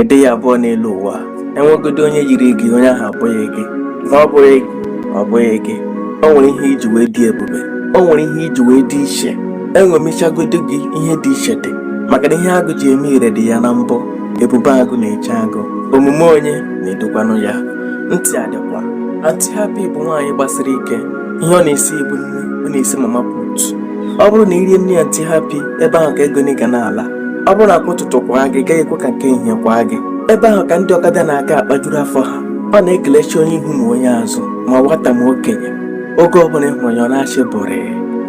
Ị dịghị abụọ n'elu ụwa enwegodị onye yiri gị onye ahụ abụghị gị na ọ bụghị gị ọ bụghị gị o nwere ihe iji wee dị ebube o nwere ihe iji wee dị iche eṅomichagodu gị ihe dị iche dị maka na ihe agụ ji eme ire dị ya na mbọ ebube agụ na-eche agụ omume onye na-edukwanụ ya ntị adịkwa aunty happy bụ nwaanyị gbasiri ike ihe ọ na-esi bụ nri ọ na-esi mama put ọ bụrụ na irie nri aunty happy ebe ahụ ka ego gị ga na-ala ọ bụrụ na nke ụtụtụ kwaa gị ị gaghị ekwe ka nke ehihie kwaa gị ebe ahụ ka ndị ọkada na-aga akpajuru afọ ha ọ na-ekelecha onye ihu ma onye azụ ma nwata ma okenye oge ọbụla ịhụrụ ya ọ na-achị bụrị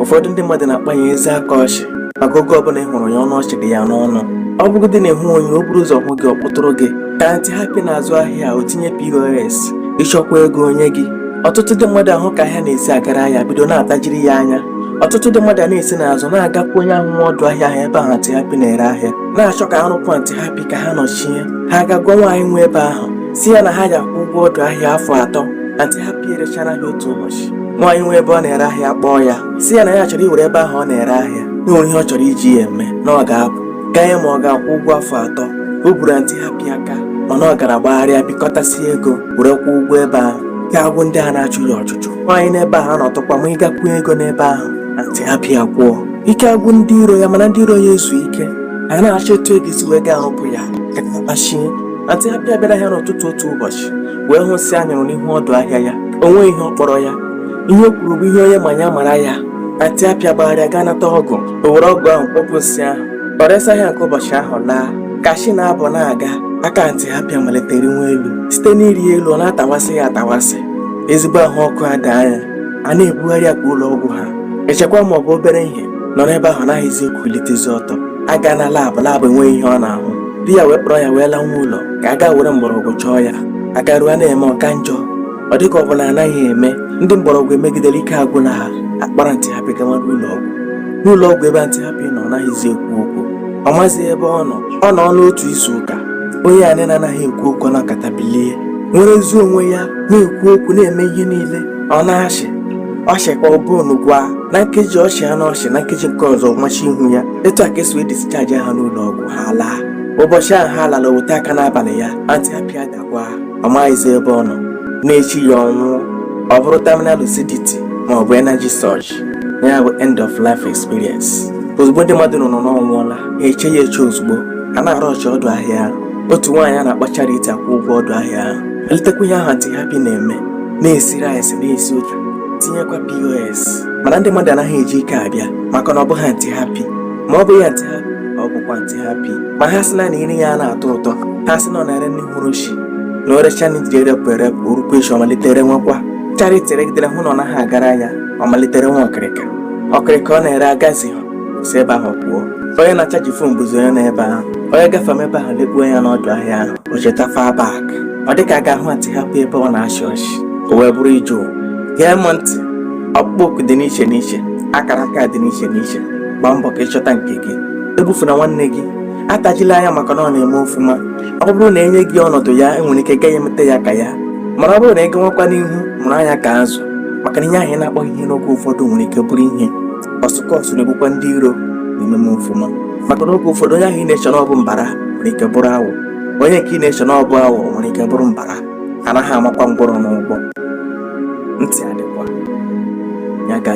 ụfọdụ ndị mmadụ na-akpọ ya eze akọ ọchị maka oge ọbụla ịhụrụ ya ọnụ ọchị dị ya n'ọnụ ọ bụgodị na ịhụghị ya o buru ụzọ hụ gị ọ kpọtụrụ gị ka aunty happy na-azụ ahịa o tinye pos ịchọkwa ego o nye gị ọtụtụ ndị mmadụ ahụ ka ahịa na-esi agara ya bido na-atajiri ya anya ọtụtụ ndị mmadụ na-esi n'azụ na-agakwu onye ahụ nwe ọdụ ahịa ahụ ebe ahụ aunty happy na-ere ahịa na-achọ ka arụpụ aunty happy ka ha nọchie ha aga gwa nwaanyị nwe ebe ahụ sị ya na ha ga-akwụ ụgwọ ọdụ ahịa afọ atọ aunty happy erechaa ahịa otu ụbọchị nwaanyị nwe ebe ọ na-ere ahịa kpọọ ya sị ya na ya chọrọ iwere ebe ahụ ọ na-ere ahịa na o nwere ihe ọ chọrọ iji ya eme na ọ ga-apụ gaa ya ma ọ ga-akwụ ụgwọ afọ atọ o buru aunty happy aka mana ọ gara gbagharịa bikọtasie ego were kwụọ ụgwọ ebe ahụ ike agwụ ndị a na-achụ ya ọchụchụ nwaanyị nwe ebe ahụ anọtụkwa ma gbakwunye ego n'ebe ahụ aunty happy akwụọ ike agwụ ndị iro ya mana ndị iro ya ezughị ike ha na-achọ etu ha ga-esi wee gaa arụpụ ya kachie aunty happy abịa ahịa n'ụtụtụ otu ụbọchị wee hụ nsị anyụrụ n'ihu ọdụ ahịa ya o nweghị ihe ọ kpọrọ ya ihe o kwuru bụ ihe onye ma ya mara ya aunty happy agbagharịa gaa nata ọgụ o were ọgụ ahụ kpọpụ nsị ahụ o resie ahịa nke ụbọchị ahụ laa ka chi na-abọ na-aga aka aunty happy amalite riwe elu site n'iri elu ọ na-atawasị ya atawasị ezigbo ahụ ọkụ adaa ya a na-ebugharị ya kwa ụlọ ọgwụ ha echekwa ma ọ bụ obere ihe nọrọ ebe ahụ naghịzi ekulitezi ọtọ a gaa na lab lab enweghị ihe ọ na-ahụ di ya wee kpọrọ ya wee lawa ụlọ ka a gaa were mgbọrọgwụ chọọ ya agaruo a na-eme ọ ka njọ ọ dịka ọ bụ na anaghị eme ndị mgbọrọgwụ emegidere ike agwụla ha akpọrọ aunty happy gawa n'ụlọ ọgwụ n'ụlọ ọgwụ ebe aunty happy nọ ọ naghịzi ekwu okwu ọ maghịzi ebe ọ nọ ọ nọọ otu izu ụka onye ahụ na-anaghị ekwu okwu nọkata bilie nwerezie onwe ya na-ekwu okwu na-eme ihe niile ọ na-achị ọchị ka ọ bụrụ unu gwa na nkeji ọchị ha na ọchị na nkeji nke ọzọ machi ihu ya etu a ka esi wee discharge ha n'ụlọ ọgwụ ha laa ụbọchị ahụ ha lara o weta aka n'abalị ya aunty happy adakwa ọ maghịzi ebe ọ nọ n'echi ya ọ nwụọ ọ bụrụ terminal lucidity ma ọ bụ energy surge ya bụ end of life experience ozugbo ndị mmadụ nụ na ọ nwụọla ha echeghị ya eche ozugbo a na-arụ ọchị ọdụ ahịa otu nwaanyị a na-akpọ Charity akwụọ ụgwọ ọdụ ahịa ahụ eletakwa ihe ahụ Aunty Happy na-eme na-esi rice na-esi ụtọ tinyekwa POS mana ndị mmadụ anaghị eji ike abịa maka na ọ bụghị Aunty Happy ma ọ bụghị Aunty Happy ọ bụkwa Aunty Happy ma ha sị na nri ya anaghị atọ ụtọ ha sị na ọ na-ere nri hụrụ chi na o recha nri erepụ erepụ o rukwa echi ọ malite rewekwa Charity regidere hụ na ọ naghị agara ya ọ malite rewe ọkịrịka ọkịrịka ọ na-ere agazi si ebe ahụ pụọ onye na-achaji fon bụzi onye nọ ebe ahụ onye gafe m ebe ahụ lekpuo anya n'ọdụ ahịa ahụ o cheta far back ọ dịka ọ ga-ahụ Aunty Happy ebe ọ na-achị ọchị o wee bụrụ ije ụwa gee m ntị ọkpụkpọ oku dị n'iche n'iche akara aka dị n'iche n'iche gbaa mbọ ka ịchọta nke gị egbufuna nwanne gị atajila anya maka na ọ na-eme ọfụma ọ bụrụ na e nye gị ọnọdụ ya i nwere ike ị gaghị emeta ya ka ya mana ọ bụrụ na ị gawakwa n'ihu mụrụ anya ka azụ maka na ihe ahụ ị na-akpọghị ihe n'oge ụfọdụ nwere ike bụrụ ihe ọsụkọsụ na-egbukwa ndị iro na-eme m ọfụma maka na oge ụfọdụ onye ahụ ị na-eche na ọ bụ mbara nwere ike bụrụ awọ onye nke ị na-eche na ọ bụ awọ nwere ike bụrụ mbara a naghị amakwa ngwọrọ n'ụgbọ ntị adịkwa ya gazi